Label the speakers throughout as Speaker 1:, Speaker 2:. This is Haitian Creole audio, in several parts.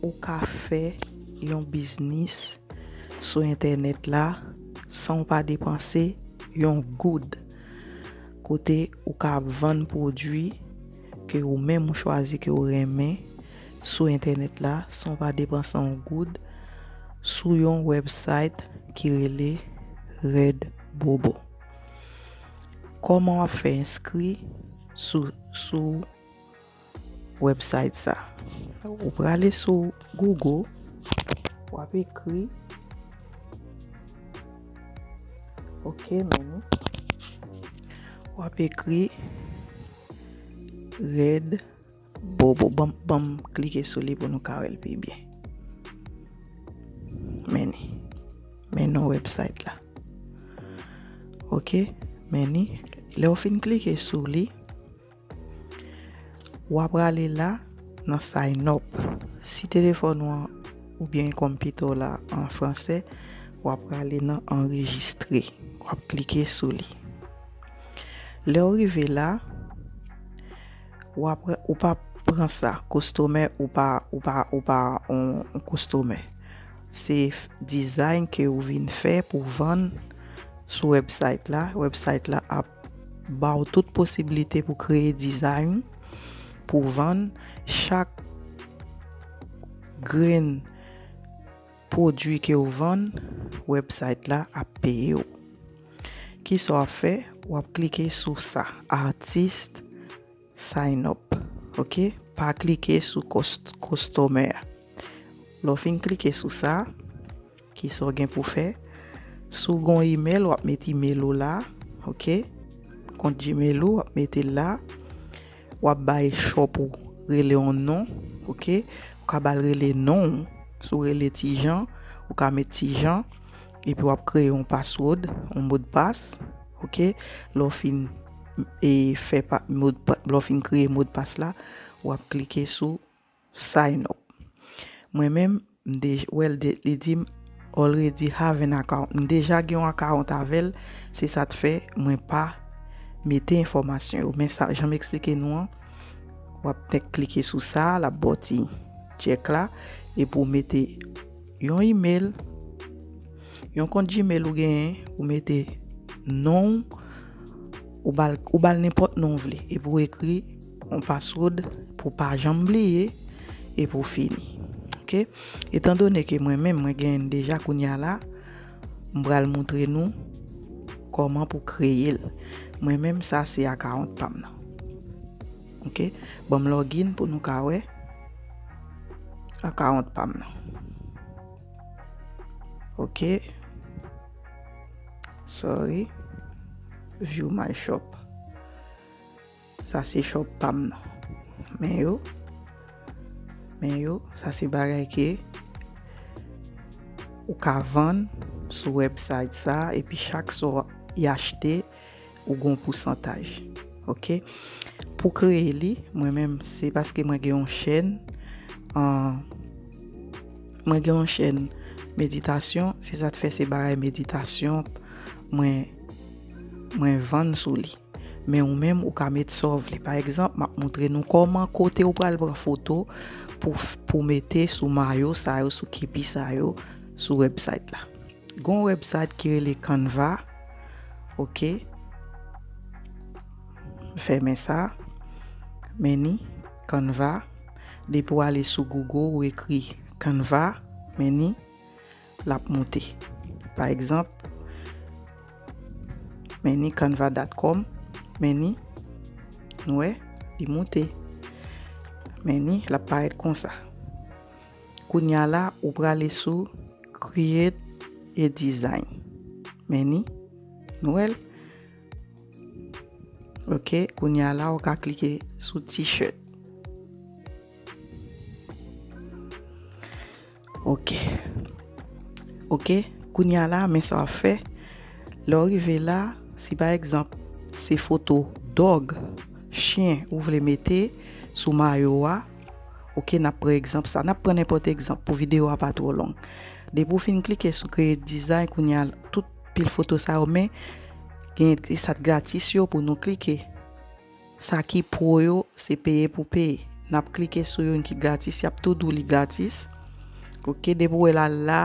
Speaker 1: Ou ka fè yon biznis sou entènèt la san w pa depanse yon goud. Kote ou ka ap vann pwodwi ke ou menm ou chwazi ke ou renmen sou entènèt la san w pa depanse yon goud sou yon website ki rele Redbobo. Koman w ap fè enskri sou. website sa. Ou prale sou Google wap ekri ok meni wap ekri red bobo banm klike sou li pou nou ka wèl pi byen meni men non website la ok meni lèw fin klike sou li. Ou a prale la nan Sign Up. Si telefòn ou an oubyen konpitè w la an fransè, ou a prale nan Anrejistre. Ou ap klike sou li. Lè ou rive la, ou pa pran sa, kostomè ou pa, ou pa, ou pa yon kostomè. Se design ke ou vin fè pou vann sou website la. Website la ap. Ba w tout posibilite pou kreye dizay ou, pou vann chak grenn pwodui ke ou vann, website la ap peye w. Kisa w ap fè, w ap klike sou sa, artist sign up, ok, pa klike sou customer. Lè w fin klike sou sa. Kisa w gen pou fè? Si w gen yon email, w ap met email ou la. Ok. Kont Gmail ou, w ap mete l la. W ap bay shop ou rele yon non. Ok. Ou ka ba l rele non ou. Si w rele Ti Jan, ou ka met Ti Jan. Epi w ap kreye yon password, yon modpas. Ok. Lè w fin fè, lè w fin kreye modpas la, w ap klike sou Sign up Mwen menm m dej wèl de li dim already have an account m deja gen yon akawont avèl se sa t fè mwen pa mete enfòmasyon yo men sa janm eksplike nou an wap t klike sou sa lap baw ti tchèk la epi w mete yon email yon kont gmail ou genyen ou mete nonw ou bal ou bal nenpòt non w vle epi w ekri. Yon password pou pa janm bliye e pou fini ok etan done ke mwen menm mwen gen deja kounya la m pral moutre nou koman pou kreyel mwen menm sa se account pam nan ok banm login pou nou ka wè account pam nan ok sorry view my shop. Sa se chòp pam nan. Men yo. Men yo. Sa se bagay ke ou ka vann sou website sa epi chak sa w achte ou gon pousantaj. Ok. Pou kreye li mwen menm se paske mwen gen yon chèn mwen gen yon chèn meditasyon se sa k fè se bagay meditasyon mwen mwen vann sou li. Men ou menm ou ka met sa w vle. Pa egzanp, m ap montre nou kòman kote ou pral pran foto pou pou mete sou mayo sa yo, sou kepi sa yo sou website la. Gen yon website ki rele Canva, ok. M fèmen sa. Men ni, Canva. Depi w ale sou Google ou ekri Canva, men ni. l ap moute. Pa egzanp, Many Canva dot com, Many, nou wè, li moute. Many, l ap parèt konsa. Kounye a la, ou prale sou Create a Design. Many, nou wè l? Ok, kounye a la, ou ka klike sou T-shirt. Ok ok kounya la men sa wap fè lè ou rive la si pa egzanp se foto dog chyen ou vle mete sou mayo a ok nap pran egzanp sa nap pran nenpòt egzanp pou videyo a pa twò long depi ou fin klike sou create design kounya tout pil foto sa yo men gen sa t gratis yo pou nou klike. Sa ki pro yo se peye pou peye. Nap klike sou youn ki gratis yap tou di w li gratis ok depi w wè l al la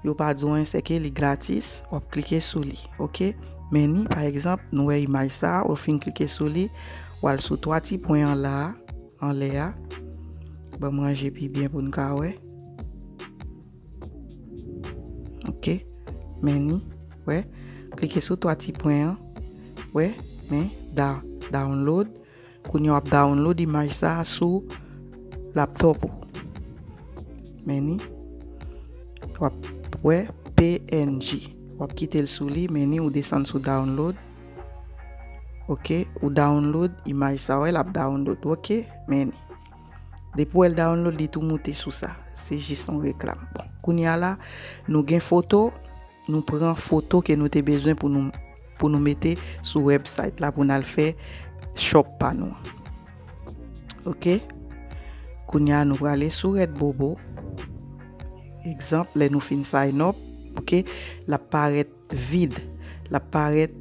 Speaker 1: yo pa di w anyen se ke li gratis wap klike sou li ok meni pa egzanp nou wè imaj sa ou fin klike sou li w al sou 3 ti pwen an la anlè a banm ranje pi byen pou n ka wè. Ok meni wè klike sou 3 ti pwen an wè men da download kounye wap download imaj sa sou laptop ou meni wap wè png wap kite l sou li meni ou desann sou download ok ou download imaj sa wè lap download ok meni. Depi wèl download li tou moute sou sa. Se jis yon reklam. Bon, kounya la nou gen foto, nou pran foto ke nou te bezwen pou nou pou nou mete sou website la pou nou al fè shop pa nou. Ok. Kounya nou prale sou Redbobo. Ekzanp, lè nou fin sign up, ok, la parèt Vide. L ap parèt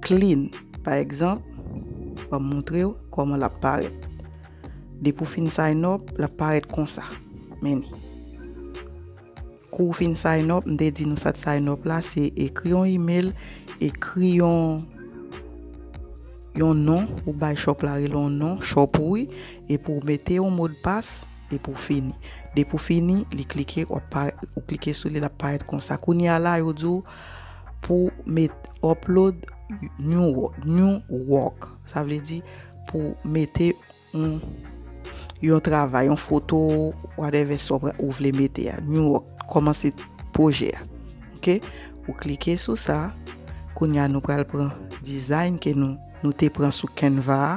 Speaker 1: clean. Pa egzanp, ban m montre w kòman l ap parèt. Depi w fin sign up, l ap parèt konsa. Men li. Kou w fin sign up, m te di nou sa t sign up la, se ekri yon email, ekri yon yon non, ou bay shop la rele yon non, shop ou wi, epi w mete yon modpas, E pou fini. Depi w fini, li klike, w ap pa, ou klike sou li, l ap parèt konsa. Kounye a la, yo di w pou w met upload new work, new work. Sa vle di pou w mete yon, yon travay, yon foto, whatever sa ou vle mete a. New work, kòmanse pwojè a. Ok? Ou klike sou sa. Kounye a nou pral pran design ke nou, nou te pran sou Canva a.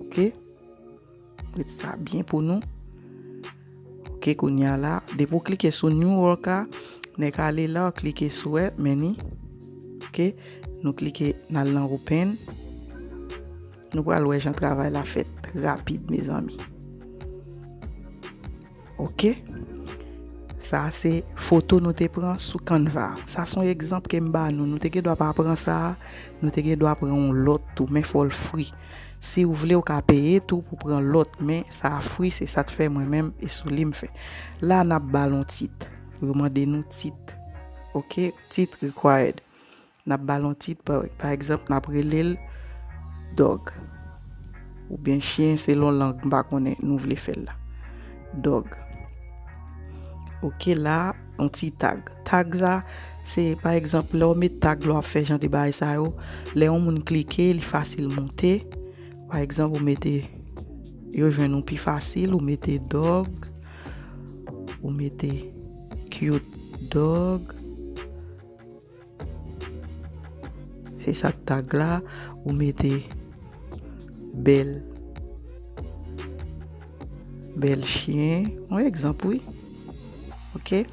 Speaker 1: Ok? Prete sa byen pou nou. Ok kounye a la. Depi ou klike sou new work a. Nè ka ale la ou klike sou e meni. Ok. Nou klike nan lan open. Nou pral wè jan travay la fèt. Rapid mezanmi. Ok Sa a se foto nou te pran sou Canva. Sa son egzanp ke m ba nou. Nou te gen dwa pa pran sa a, nou te gen dwa pran yon lòt tou, men fò l free. Si ou vle ou ka peye tou pou pran lòt, men sa a free se sa t fè mwen menm e sou li m fè. La n ap ba l yon tit. Yo mande nou tit. Ok Tit required. N ap ba l yon tit, pa egzanp, n ap rele l Dog. Oubyen chyen selon lang m pa konnen nou vle fè l la. Dog. Ok la, yon ti tag. Tag sa, se pa egzanp lè w met tag lè w ap fè jan de bagay sa yo, lè yon moun klike li fasil monte. Pa egzanp ou mete yo jwenn ou pi fasil, ou mete dog, ou mete cute dog. Se sa tag la ou mete bèl bèl chyen yon egzanp wi ok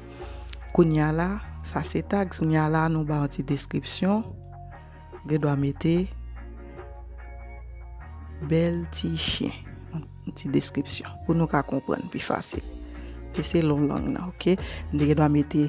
Speaker 1: kounya la sa se tag kounya la nou ba yon ti deskripsyon gen dwa mete bèl ti chyen yon ti deskripsyon pou nou ka konprann pi fasil se se lon lang nan ok nou gen dwa mete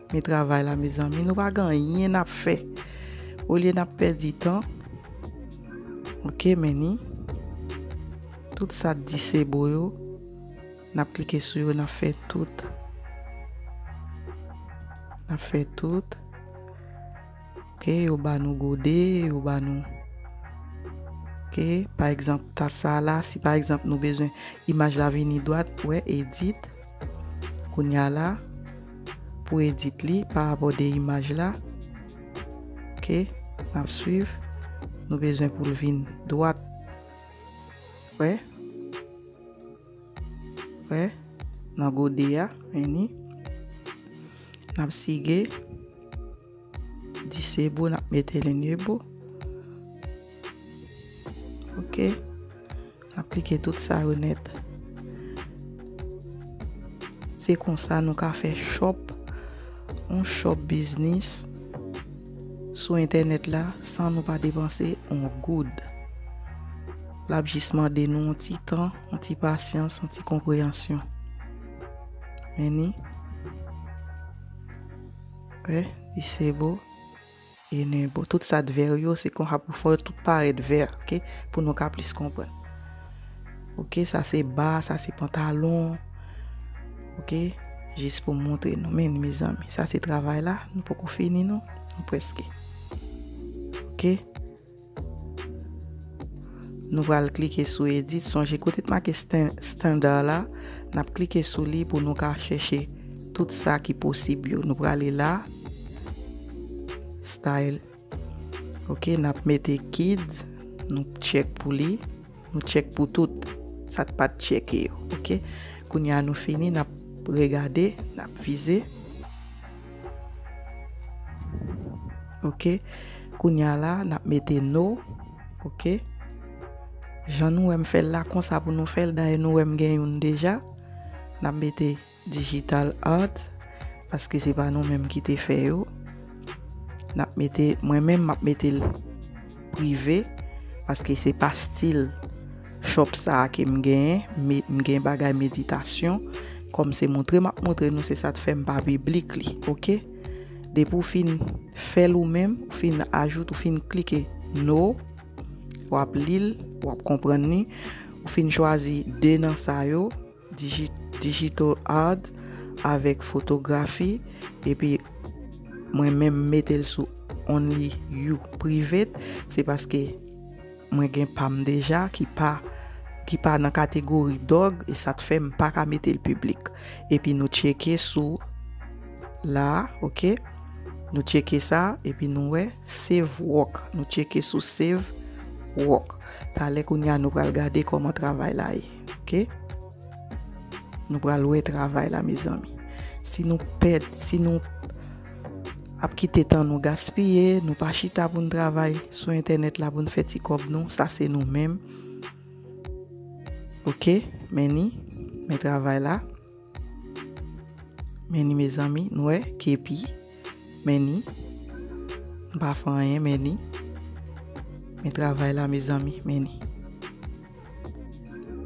Speaker 1: Men travay la mezanmi nou pa gen anyen nap fè olye nap pèdi tan ok men ni tout sa di se bo yo nap klike sou yo nap fè tout nap fè tout ok yo ba nou gode yo ba nou ok pa egzanp tas sa la si pa egzanp nou bezwen imaj la vini dwat wè edit. Kounya la pou edit li pa abòde imaj la ok nap swiv nou bezwen poul vin dwat wè wè nan gode a meni nap sige disable nap mete enable ok. Map klike tout sa yo nèt. Se konsa nou ka fè shop, yon shop biznis sou entènèt la san nou pa depanse yon goud. Lap jis mande nou yon ti tan, yon ti pasyans, yon ti konpreyansyon. Meni. Wè, li se bo. E nen bon tout sa t vert yo se konsa pou fè yo tout parèt vert ok pou nou ka plis konprann ok sa se ba sa se pantalon ok jis pou montre nou men ni mezanmi sa se travay la nou poko fini non nou preske ok. Nou pral klike sou edit sonje kote t make standard la nap klike sou li pou nou ka chèche tout sa ki posib yo nou prale la style ok nap mete kids nou tchek pou li. Nou tchek pou tout sak pat tcheke yo ok kounya nou fini nap regade nap vize ok kounya la nap mete no ok jan nou wèm fèl la konsa pou nou fèl dayè nou wèm gen youn deja nap mete Digital art paske se pa nou menm ki te fè yo nap mete mwen menm map metel prive paske se pa stil shop sa kem genyen m gen bagay meditasyon kòm se moutre map moutre nou se sat fèm pa piblik li ok depi ou fin fèl ou menm ou fin ajoute ou fin klike no wap lil wap konprann li ou fin chwazi 2 nan sa yo. Digital art avèk fotografi epi mwen menm metel sou only you private se paske mwen gen pam deja ki pa ki pa nan kategori dog e sat fèm paka metel piblik epi nou tcheke sou la ok nou tcheke sa epi nou wè save work nou tcheke sou save work talè kounya nou pral gade kòman travay la ye. ok nou pral wè travay la mezanmi si nou pèd si nou ap kite tan nou gaspiye nou pa chita pou nou travay sou entènèt la pou nou fè ti kòb nou sa se nou menm ok men ni men travay la Meni mezanmi nou wè kepi meni m pa fè anyen meni men travay la mezanmi meni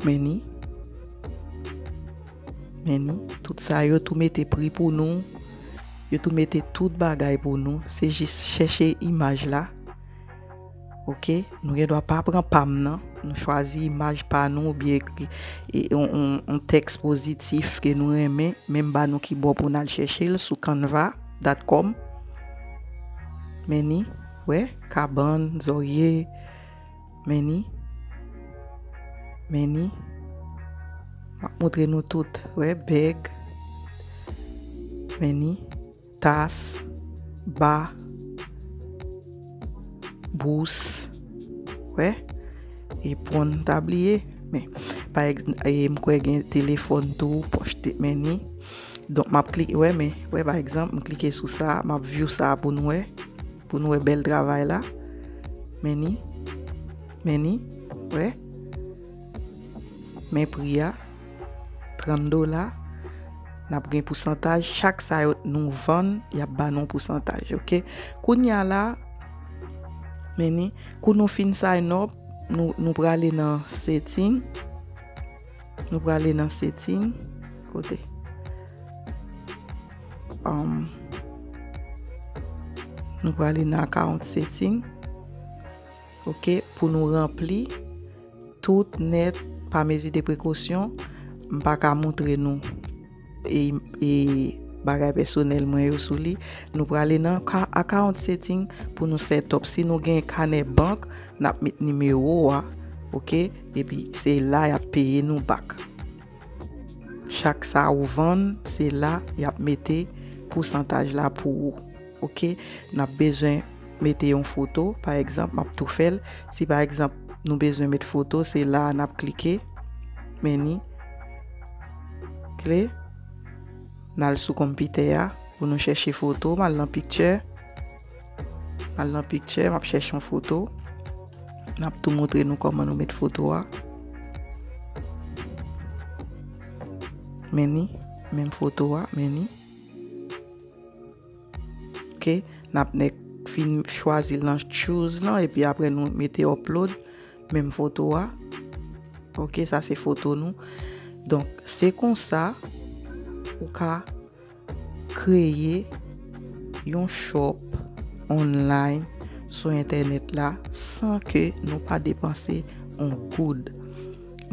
Speaker 1: meni meni tout sa yo tou mete pri pou nou yo tou mete tout bagay pou nou se jis chèche imaj la. Ok nou gen dwa pa pran pam nan nou chwazi imaj pa nou ou byen ekri yon tèks pozitif ke nou renmen menm ba nou ki bò pou nal chèche l sou canva dat kòm meni wè kabann zòrye meni meni map moutre nou tout wè bèg meni. Tas, ba, bous, wè, epon m ta bliye, men, pa egz, e m kwè gen telefòn tou, pòch te men ni, donk m ap klike, wè men, wè pa egzanp, m klike sou sa, m ap view sa pou n wè, pou n wè bèl travay la, men ni, men ni, wè, men pri a. 30 dola nap gen pousantaj chak sa yo nou vann yap ba nou pousantaj ok kounya la meni kou nou fin sign up nou nou prale nan setting nou prale nan setting kote um, nou prale nan account setting Ok pou nou ranpli tout nèt pa mezi de prekosyon m pa ka moutre nou e bagay pèsonèl mwen yo sou li nou prale nan account setting pou nou setup si nou gen kanè bank n ap met nimewo a ok epi se la y ap peye nou bak chak sa ou vann se la y ap mete pousantaj la pou ou. Ok nap bezwen mete yon foto pa egzanp map tou fèl si pa egzanp nou bezwen met foto se la nap klike meni kle nal sou konpitè a pou nou chèche foto mal nan piktyè mal nan piktyè map chèche yon foto nap tou moutre nou koman nou met foto a meni menm foto a meni. Ok nap nèk fin chwazi l nan choose lan epi apre nou mete upload menm foto a ok sa se foto nou donk se konsa ou ka kreye yon shop online sou entènèt la san ke nou pa depanse yon goud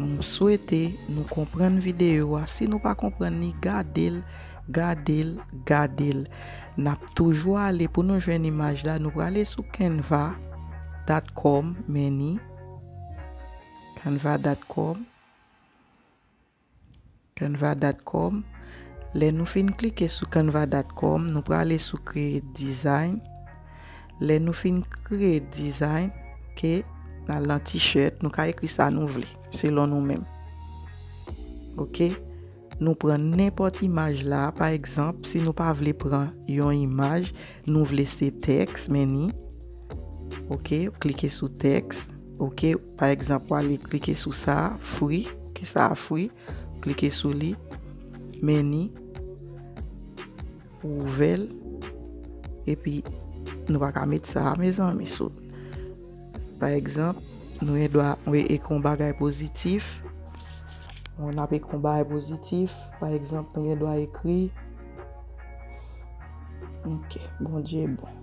Speaker 1: m swete nou konprann videyo a si nou pa konprann li gade l Gade l, gade l. N ap toujou ale pou nou jwenn imaj la. Nou prale sou Canva dot com meni. Canva dot com. Canva dot com. Lè nou fin klike sou Canva dot com, nou prale sou kreye design. Lè nou fin kreye design, ok, n al nan t-shirt. Nou ka ekri sa nou vle selon nou menm. Ok. Nou pran nenpòt imaj la, pa egzanp, si nou pa vle pran yon imaj, nou vle se tèks, men ni. Ok, ou klike sou tèks. Ok, pa egzanp, ou ale klike sou sa, fri. Ok, sa a fri. Klike sou li. Men ni. Pou ouvèl epi nou pa ka met sa mezanmi so pa egzanp nou gen dwa ekri yon bagay pozitif nou ap ekri yon bagay pozitif pa egzanp nou gen dwa ekri ok bondye bon.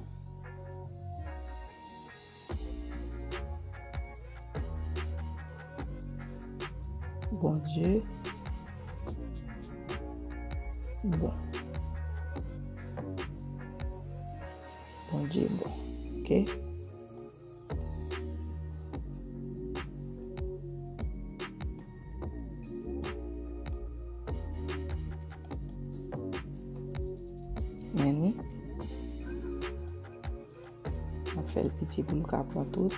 Speaker 1: Bondye bon. Bondye bon. Ok. Mwen fè l piti pou l ka pran tout.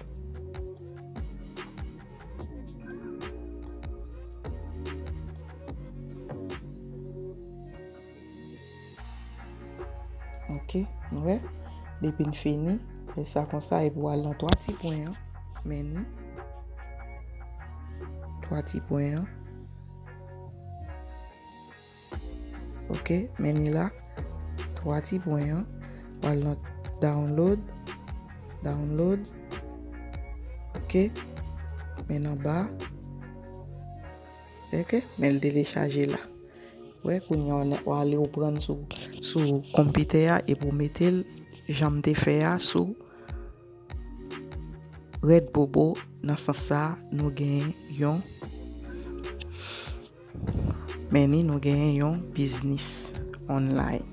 Speaker 1: Ok, nou wè. Depi n fini, fè sa konsa epi w al nan 3 ti pwen an. Men ni. 3 ti pwen an. Ok men li la 3 ti pwen an pral nan download download ok men nan ba ok men li telechaje la wè kounye an ou ale ou pran sou sou konpitè a epi ou metel janm te fè a sou Red Bobo nan sans sa nou gen yon. Men ni nou genyen yon biznis online.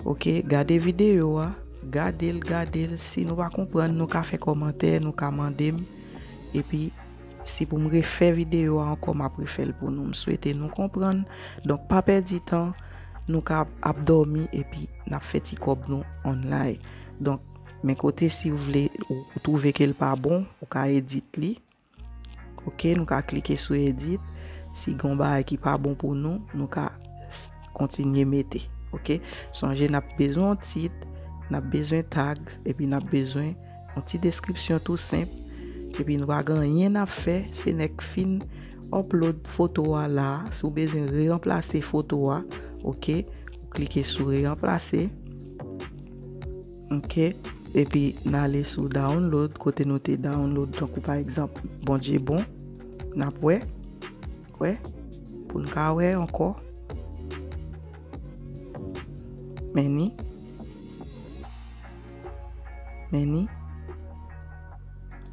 Speaker 1: Ok gade video a, gadel gadel si nou pa konprann nou ka fè kòmantè nou ka mandem epi si pou m refè video a ankò map refèl pou nou m swete nou konprann donk pa pèdi tan nou ka ap dòmi epi nap fè ti kòb nou online donk men kote si ou vle ou twouve ke l pa bon ou ka edit li Ok nou ka klike sou edit si gen yon bagay ki pa bon pou nou nou ka kontinye mete ok sonje nap bezwen yon tit nap bezwen tag epi nap bezwen yon ti deskripsyon tou senp epi nou pa gen anyen nap fè se lèk fin upload foto a la si w bezwen re ranplase foto a ok klike sou re ranplase. Ok epi n ale sou download kote nou te download tankou pa egzanp Bondye bon n ap wè wè pou n ka wè ankò meni meni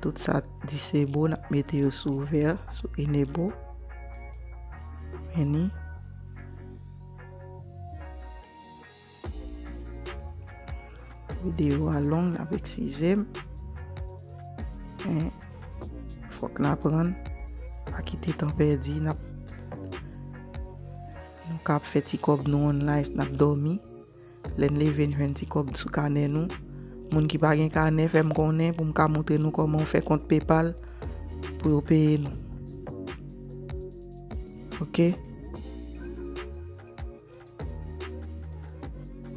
Speaker 1: tout sa disable n ap mete yo sou ouvè sou enable meni. Video a long lap eksize m. Men fok n aprann pa kite tan pèdi nap nou ka ap fè ti kob nou on life nap domi lè n leve n jwenn ti kob sou kanè nou moun ki pa gen kanè fè m konnen pou m ka montre nou koman ou fè kont paypal pou yo peye nou ok.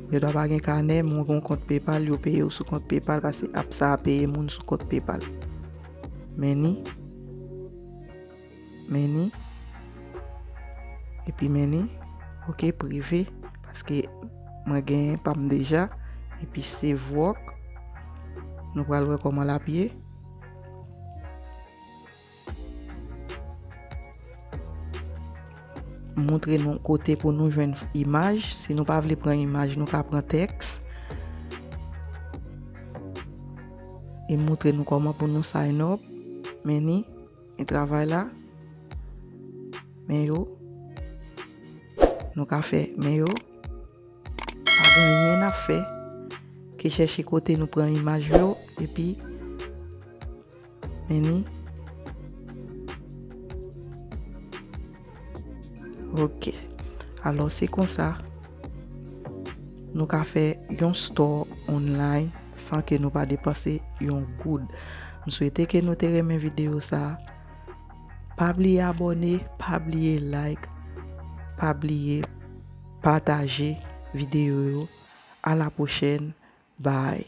Speaker 1: Yo dwa pa gen kanè men ou gen yon kont PayPal yo peye ou sou kont PayPal paske app sa a peye moun sou kont PayPal. Meni. Meni. Epi meni. Ok prive paske mwen gen pa m deja. Epi save work. Nou pral wè koman l ap ye. Montre nou kote pou nou jwenn imaj. Si nou pa vle pran imaj, nou ka pran tèks. E montre nou koman pou nou sign up. Men ni, men travay la. Men yo. Nou ka fè men yo. Pa gen anyen na fè. Ke chèche kote nou pran imaj yo. E pi. Meni Ok Alò se konsa Nou ka fè yon store online San ke nou pa depanse yon goud M swete ke nou te renmen video sa Pa bliye abone Pa bliye like Pa bliye pataje video yo A la pwochèn Bye